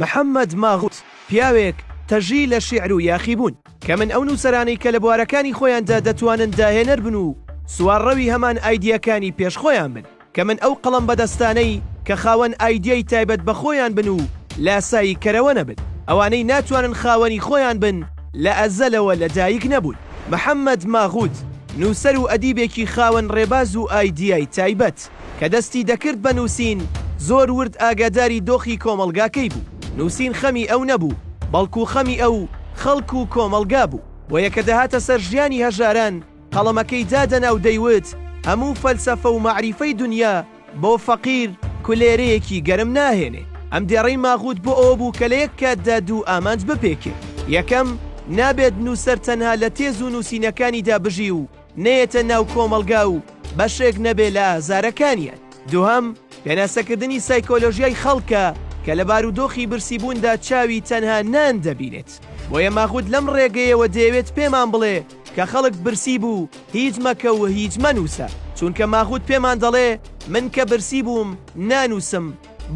محەمەد ماغوت، پیاوێک تەژی لە شیعر و یاخیبوون، کە من ئەو نووسەرانەی کە لە بوارەکانی خۆیاندا دەتوانن داهێنەر بن و سوارڕەوی هەمان ئایدیاکانی پێش خۆیان بن، کە من ئەو قەڵەم بەدەستانەی کە خاوەن ئایدیای تایبەت بە خۆیان بن و لاسایی کەرەوە نەبن، ئەوانەی ناتوانن خاوەنی خۆیان بن لە ئەزەلەوە لە دایک نەبوون. محەمەد ماغوت، نووسەر و ئەدیبێکی خاوەن ڕێباز و ئایدیای تایبەت. کە دەستی دەکرد بە نووسین، زۆر ورد ئاگاداری دۆخی کۆمەڵگاکەی بوو. نووسین خەمی ئەو نەبوو، بەڵکو خەمی ئەو، خەڵک و کۆمەڵگا بوو. بۆیە کە دەهاتە سەر ژیانی هەژاران، قەڵەمەکەی دادەنا و دەیوت، هەموو فەلسەفە و مەعریفەی دونیا بۆ فەقیر، کولێرەیەکی گەرم ناهێنێ. ئەم دێڕەی ماغووت بۆ ئەوە بوو کە لە یەک کاتدا دوو ئامانج بپێکێ. یەکەم، نابێت نووسەر تەنها لە تێز و نووسینەکانیدا بژی و، نەیەتە ناو کۆمەڵگا و بەشێک نەبێ لە ئازارەکانیان. دووهەم، پێناسەکردنی سایکۆلۆژیای خەڵکە کە لە بارودۆخی برسیبووندا چاوی تەنها نان دەبینێت. بۆیە ماغوت لەم ڕێگەیەوە دەیەوێت پێمان بڵێ کە خەڵک برسی بوو هیچ مەکە و هیچ مەنووسە، چونکە ماغوت پێمان دەڵێ من کە برسی بووم نانووسم،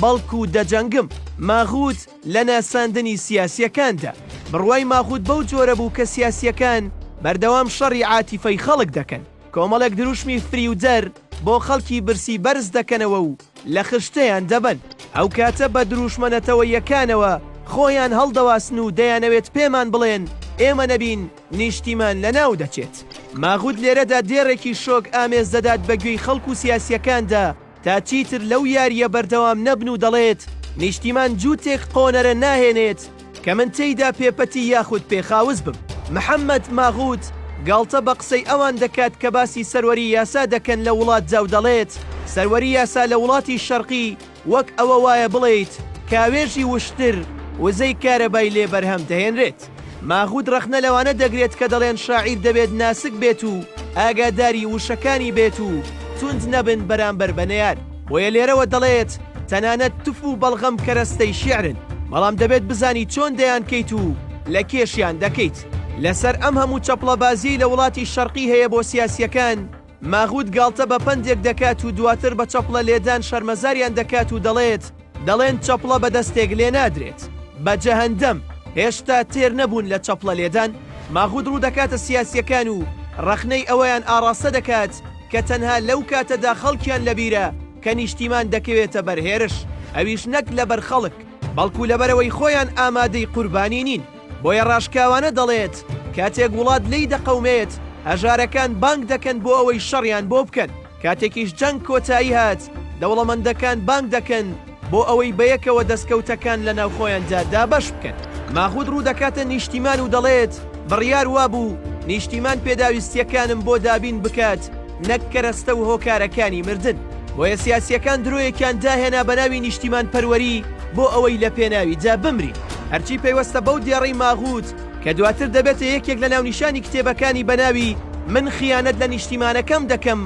بەڵکو دەجەنگم. ماغوت لە ناساندنی سیاسیەکاندا بڕوای ماغوت بەو جۆرە بوو کە سیاسیەکان بەردەوام شەڕی عاتیفەی خەڵک دەکەن، کۆمەڵێک دروشمی فریودەر بۆ خەڵکی برسی بەرز دەکەنەوە و لە خشتەیان دەبەن، ئەو کاتە بە دروشمە نەتەوەییەکانەوە خۆیان هەڵدەواسن و دەیانەوێت پێمان بڵێن ئێمە نەبین نیشتیمان لەناو دەچێت. ماغوت لێرەدا دێڕێکی شۆک ئامێز دەدات بە گوێی خەڵک و سیاسیەکاندا، تا چیتر لەو یاریە بەردەوام نەبن و دەڵێت نیشتیمان جووتێک قۆنەرە ناهێنێت کە من تێیدا پێپەتی یاخود پێخاوس بم. محەمەد ماغووت گاڵتە بە قسەی ئەوان دەکات کە باسی سەروەری یاسا دەکەن لە وڵاتدا و دەڵێت سەروەری یاسا لە وڵاتی شەرقی وەک ئەوە وایە بڵێیت کاوێژی وشتر وزەی کارەبای لێ بەرهەم دەهێنرێت. ماغوت ڕەخنە لەوانە دەگرێت کە دەڵێن شاعیر دەبێت ناسک بێت و ئاگاداری وشەکانی بێت و توند نەبن بەرامبەر بە نەیار، بۆیە لێرەوە دەڵێت، تەنانەت تف و بەڵغەم کەرەستەی شیعرن، بەڵام دەبێت بزانی چۆن دەیانکەیت و لە کێشیان دەکەیت. لەسەر ئەم هەموو چەپڵەبازییەی لە وڵاتی شەرقی هەیە بۆ سیاسییەکان، ماغوت گاڵتە بە پەندێک دەکات و دواتر بە چەپڵە لێدان شەرمەزاریان دەکات و دەڵێت، دەڵێن چەپڵە بە دەستێک لێ نادرێت. بە جەهەندەم! هێشتا تێر نەبوون لە چەپڵە لێدان؟ ماغوت ڕوو دەکاتە سیاسییەکان و ڕەخنەی ئەوەیان ئاڕاستە دەکات کە تەنها لەو کاتەدا خەڵکیان لە بیرە کە نیشتیمان دەکەوێتە بەر هێرش، ئەویش نەک لەبەر خەڵک، بەڵکو لەبەرئەوەی خۆیان ئامادەی قوربانی نین. بۆیە ڕاشکاوانە دەڵێت، کاتێک وڵات لێی دەقەومێت، هەژارەکان بانگ دەکەن بۆ ئەوەی شەڕیان بۆ بکەن، کاتێکیش جەنگ کۆتایی هات، دەوڵەمەندەکان بانگ دەکەن بۆ ئەوەی بەیەکەوە دەستکەوتەکان لەناوخۆیاندا دابەش بکەن. ماخود ڕوودەکاتە نیشتیمان و دەڵێت، بڕیار وابوو نیشتیمان پێداویستییەکانم بۆ دابین بکات، نەک کەرەستە و هۆکارەکانی مردن. بۆیە سیاسییەکان درۆیەکیان داهێنا بە ناوی نیشتیمانپەروەری بۆ ئەوەی لە پێناویدا بمرین. هەرچی پەیوەستە بەو دێڕەی ماغووت کە دواتر دەبێتە یەکێک لە ناونیشانی کتێبەکانی بە ناوی من خیانەت لە نیشتیمانەکەم دەکەم،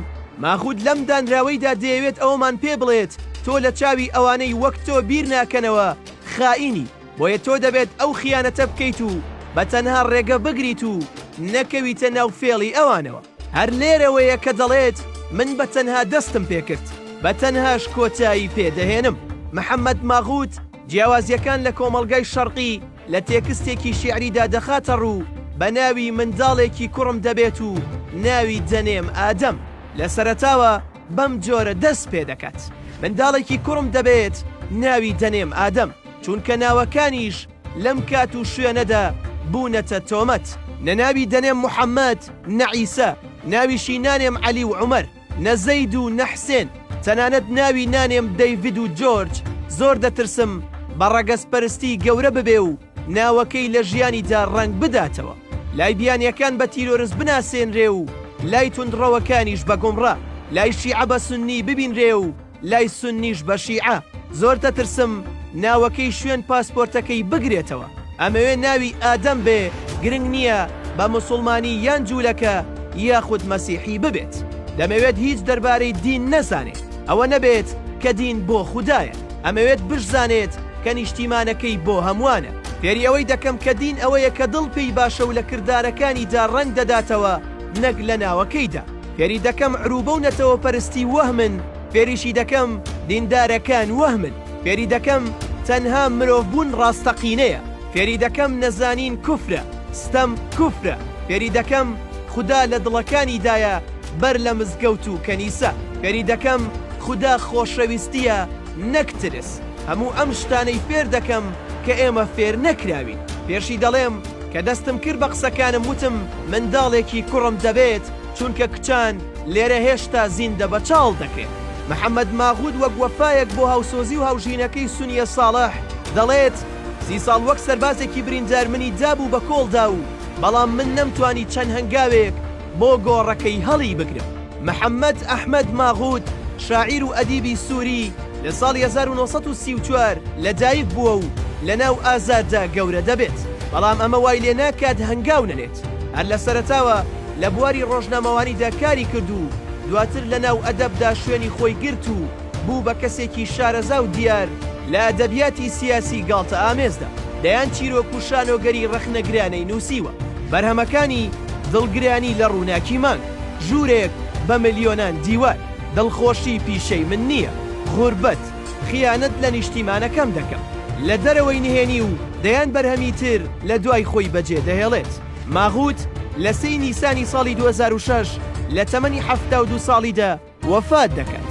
ماغووت لەم دانراوەیدا دەیەوێت ئەوەمان پێ بڵێت تۆ لە چاوی ئەوانەی وەک تۆ بیر ناکەنەوە خائینی، بۆیە تۆ دەبێت ئەو خیانەتە بکەیت و بە تەنها ڕێگە بگریت و نەکەویتە ناو فێڵی ئەوانەوە. هەر لێرەوەیە کە دەڵێت من بە تەنها دەستم پێکرد، بە تەنهاش کۆتایی پێ دەهێنم. محەمەد ماغووت جیاوازییەکان لە کۆمەڵگای شەرقی لە تێکستێکی شیعریدا دەخاتە ڕوو بە ناوی منداڵێکی کوڕم دەبێت و ناوی دەنێم ئادەم. لە سەرەتاوە بەم جۆرە دەست پێ دەکات، منداڵێکی کوڕم دەبێت ناوی دەنێم ئادەم، چونکە ناوەکانیش، لەم کات و شوێنەدا بوونەتە تۆمەت. نە ناوی دەنێم محەمەد، نە عیسا، ناویشی نانێم عەلی و عومەر، نە زەید و نە حسێن، تەنانەت ناوی نانێم دەیڤد و جۆرج، زۆر دەترسم بە ڕەگەزپەرستی گەورە ببێ و ناوەکەی لە ژیانیدا ڕەنگ بداتەوە. لای بیانییەکان بە تیرۆرست بناسێنرێ و لای توندڕەوەکانیش بە گومڕا، لای شیعە بە سوننی ببینرێ و، لای سونیش بە شیعە زۆر دەترسم ناوەکەی شوێن پاسپۆرتەکەی بگرێتەوە ئەمەوێ ناوی ئادەم بێ گرنگ نییە بە مسوڵمانی یان جوولەکە یاخود مەسیحی ببێت دەمەوێت هیچ دەربارەی دین نەزانێت ئەوە نەبێت کە دین بۆ خودایە ئەمەوێت بشزانێت کە نیشتیمانەکەی بۆ هەمووانە فێری ئەوەی دەکەم کە دین ئەوەیە کە دڵ پێی باشە و لە کردارەکانیدا ڕەنگ دەداتەوە نەک لە ناوەکەیدا. فێری دەکەم عروبە و نەتەوە پەرستی وەهمن فێریشی دەکەم دیندارەکان وەهمن فێری دەکەم تەنها مرۆڤ بوون ڕاستەقینەیە فێری دەکەم نەزانین کوفرە ستەم کوفرە فێری دەکەم خودا لە دڵەکانی دایە بەر لە مزگەوت و کەنیسە فێری دەکەم خودا خۆشەویستیە نەک ترس هەموو ئەم شتانەی فێر دەکەم کە ئێمە فێر نەکراوین پێشی دەڵێم کە دەستم کرد بە قسەکانم وتم منداڵێکی کوڕم دەبێت چونکە کچان لێرە هێشتا زیندە بە چاڵ دەکرێن. محەمەد ماغوود وەک وەفایەک بۆ هاوسۆزی و هاوژینەکەی سونیە ساڵح دەڵێت، سی ساڵ وەک سەربازێکی بریندار منی دابوو بە کۆڵدا و بەڵام من نەمتوانی چەند هەنگاوێک، بۆ گۆڕەکەی هەڵی بگرم. محەمەد ئەحمەد ماغوت، شاعیر و ئەدیبی سووری، لە ساڵی هەزار و نۆ سەد و سی و چوار لە دایک بووە و لە ناو ئازاددا گەورە دەبێت، بەڵام ئەمە وای لێ ناکات هەنگاو نەنێت. هەر لە سەرەتاوە لە بواری ڕۆژنامەوانیدا کاری کرد و دواتر لە ناو ئەدەبدا شوێنی خۆی گرت و، بوو بە کەسێکی شارەزا و دیار لە ئەدەبیاتی سیاسی گاڵتەئامێزدا، دەیان چیرۆک و شانۆگەری ڕەخنەگرانەی نووسیوە، بەرهەمەکانی، دڵگرانی لە ڕووناکی مانگ، ژوورێک بە ملیۆنان دیوار، دڵخۆشی پیشەی من نییە، غوربەت، خیانەت لە نیشتیمانەکەم دەکەم، لە دەرەوەی نهێنی و دەیان بەرهەمی تر لە دوای خۆی بەجێ دەهێڵێت. ماغووت لە سێی نیسانی ساڵی دوو هەزار و شەش لە تەمەنی حەفتا و دوو ساڵیدا، وەفات دەکات.